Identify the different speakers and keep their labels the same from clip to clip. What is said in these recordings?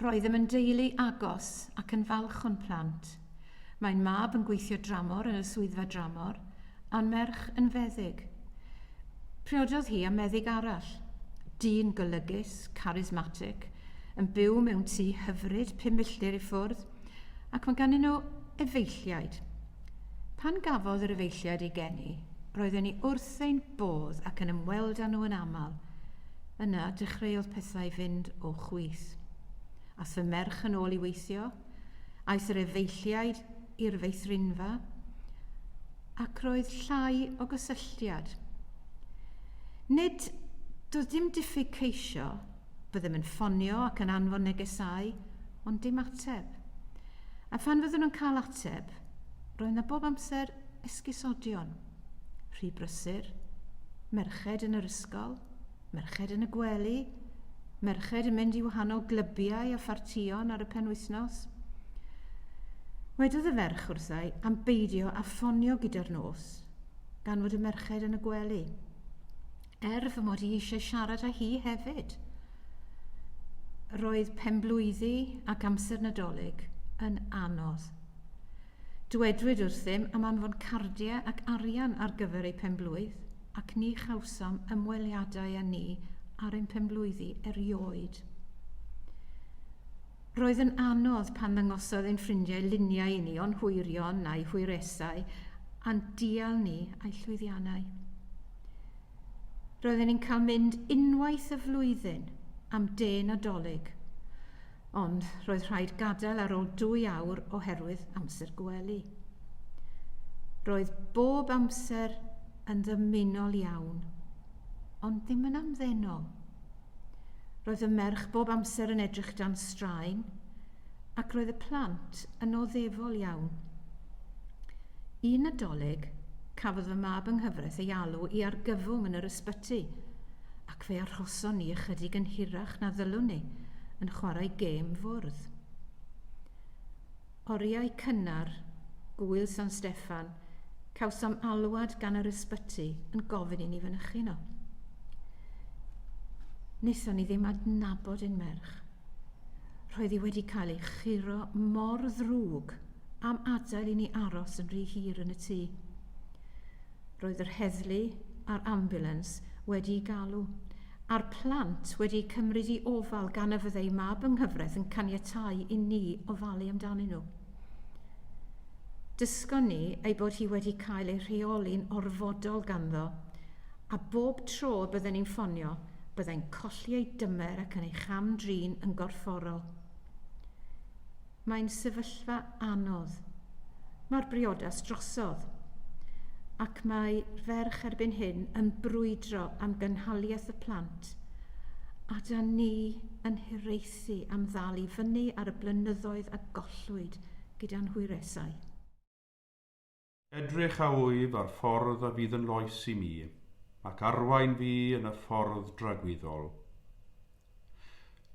Speaker 1: Roeddem yn deulu agos ac yn falch o'n plant. Mae'n mab yn gweithio dramor yn y swyddfa dramor, a'n merch yn feddyg. Priododd hi â meddyg arall, dyn golygus, charismatic, yn byw mewn tŷ hyfryd pum milltir i ffwrdd, ac mae ganddyn nhw efeilliaid. Pan gafodd yr efeilliaid eu geni, roedden ni wrth ein bodd ac yn ymweld â nhw yn aml. Yna, dechreuodd pethau fynd o chwith. Aeth fy merch yn ôl i weithio, aeth yr efeilliaid i'r feithrinfa, ac roedd llai o gysylltiad. Nid, doedd dim diffyg ceisio, Byddem yn ffonio ac yn anfon negesau, ond dim ateb. A phan fyddwn yn cael ateb, roedd 'na bob amser esgusodion. Rhy brysur, merched yn yr ysgol, merched yn y gwely, merched yn mynd i wahanol glybiau a phartïon ar y penwythnos. Wedodd y ferch wrthai am beidio â ffonio gyda'r nos, gan fod y merched yn y gwely. er fy mod i eisiau siarad â hi hefyd. Roedd penblwyddi ac amser Nadolig yn anodd. Dywedwyd wrthym am anfon cardiau ac arian ar gyfer eu penblwydd ac ni chawsom ymweliadau â ni ar ein penblwyddi erioed. Roedd yn anodd pan ddangosodd ein ffrindiau luniau i ni o'n hwyrion a'u hwyresau a'n dial ni a'u llwyddiannau. Roedden ni'n cael mynd unwaith y flwyddyn am de Nadolig, ond roedd rhaid gadael ar ôl dwy awr oherwydd amser gwely. Roedd bob amser yn ddymunol iawn, ond ddim yn amddenol. Roedd y merch bob amser yn edrych dan straen, ac roedd y plant yn oddefol iawn. Un Nadolig, cafodd fy mab yng nghyfraith ei alw i argyfwng yn yr ysbyty, ac fe arhoson ni ychydig yn hirach na ddylwn ni, yn chwarae gêm fwrdd. Oriau cynnar, Gŵyl San Steffan, cawsom alwad gan yr ysbyty yn gofyn i ni fynychu yno. Wnaethon ni ddim adnabod un merch. Roedd hi wedi cael ei churo mor ddrwg am adael i ni aros yn rhy hir yn y tŷ. Roedd yr heddlu a'r ambiwlans wedi'u galw, a'r plant wedi'u cymryd i ofal gan y fyddai mab yng nghyfraith yn caniatáu i ni ofalu amdanyn nhw. Dysgon ni ei bod hi wedi cael ei rheoli'n orfodol ganddo, a bob tro y bydden ni'n ffonio, byddai'n colli ei dymer ac yn ei cham-drin yn gorfforol. Mae'n sefyllfa anodd. Mae'r briodas drosodd. Ac mae ferch erbyn hyn yn brwydro am gynhaliaeth y plant, a 'da ni yn hiraethu am ddal i fyny ar y blynyddoedd a gollwyd gyda'n hwyresau. Edrych a wyf ar ffordd a fydd yn loes i mi, ac arwain fi yn y ffordd dragwyddol.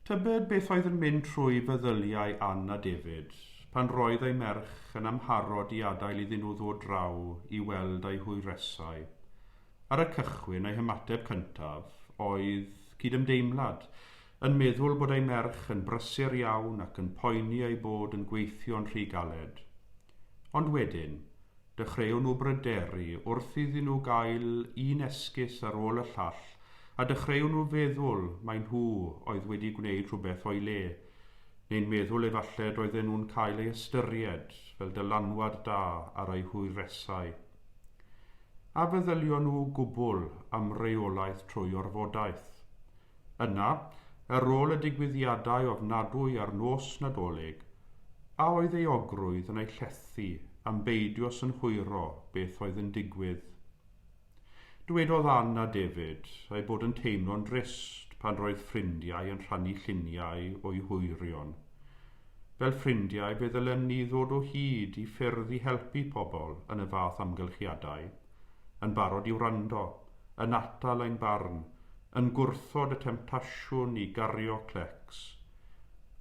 Speaker 1: Tybed beth oedd yn mynd trwy feddyliau Ann a David pan roedd eu merch yn amharod i adael iddyn nhw ddod draw i weld eu hwyresau? Ar y cychwyn, eu hymateb cyntaf oedd cydymdeimlad, yn meddwl bod eu merch yn brysur iawn ac yn poeni eu bod yn gweithio'n rhy galed. Ond wedyn, dechreuon nhw bryderu wrth iddyn nhw gael un esgus ar ôl y llall, a dechreuon nhw feddwl mai nhw oedd wedi gwneud rhywbeth o'i le, neu'n meddwl efallai doedden nhw'n cael ei ystyried fel dylanwad da ar eu hwyresau. A feddylion nhw gwbl am reolaeth trwy orfodaeth? Yna, ar ôl y digwyddiadau ofnadwy ar nos Nadolig, a oedd euogrwydd yn ei llethu am beidio synhwyro beth oedd yn digwydd? Dywedodd Ann a David eu bod yn teimlo'n drist pan roedd ffrindiau yn rhannu lluniau o'u hwyrion. Fel ffrindiau, fe ddylen ni ddod o hyd i ffyrdd i helpu pobl yn y fath amgylchiadau. yn barod i wrando, yn atal ein barn, yn gwrthod y temtasiwn i gario clecs.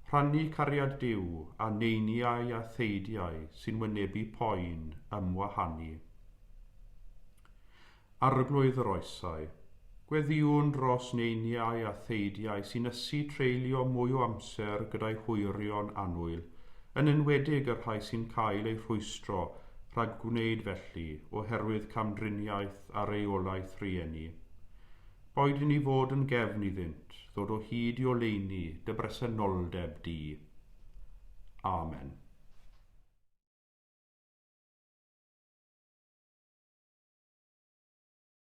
Speaker 1: Rhannu cariad Duw â neiniau a theidiau sy'n wynebu poen ymwahanu. Arglwydd yr Oesau. Gweddïwn dros neiniau a theidiau sy'n ysu treulio mwy o amser gyda'u hwyrion annwyl, yn enwedig y rhai sy'n cael eu rhwystro rhag gwneud felly oherwydd camdriniaeth a reolaeth rieni. Boed i ni fod yn gefn iddynt ddod o hyd i oleuni dy bresenoldeb di. Amen.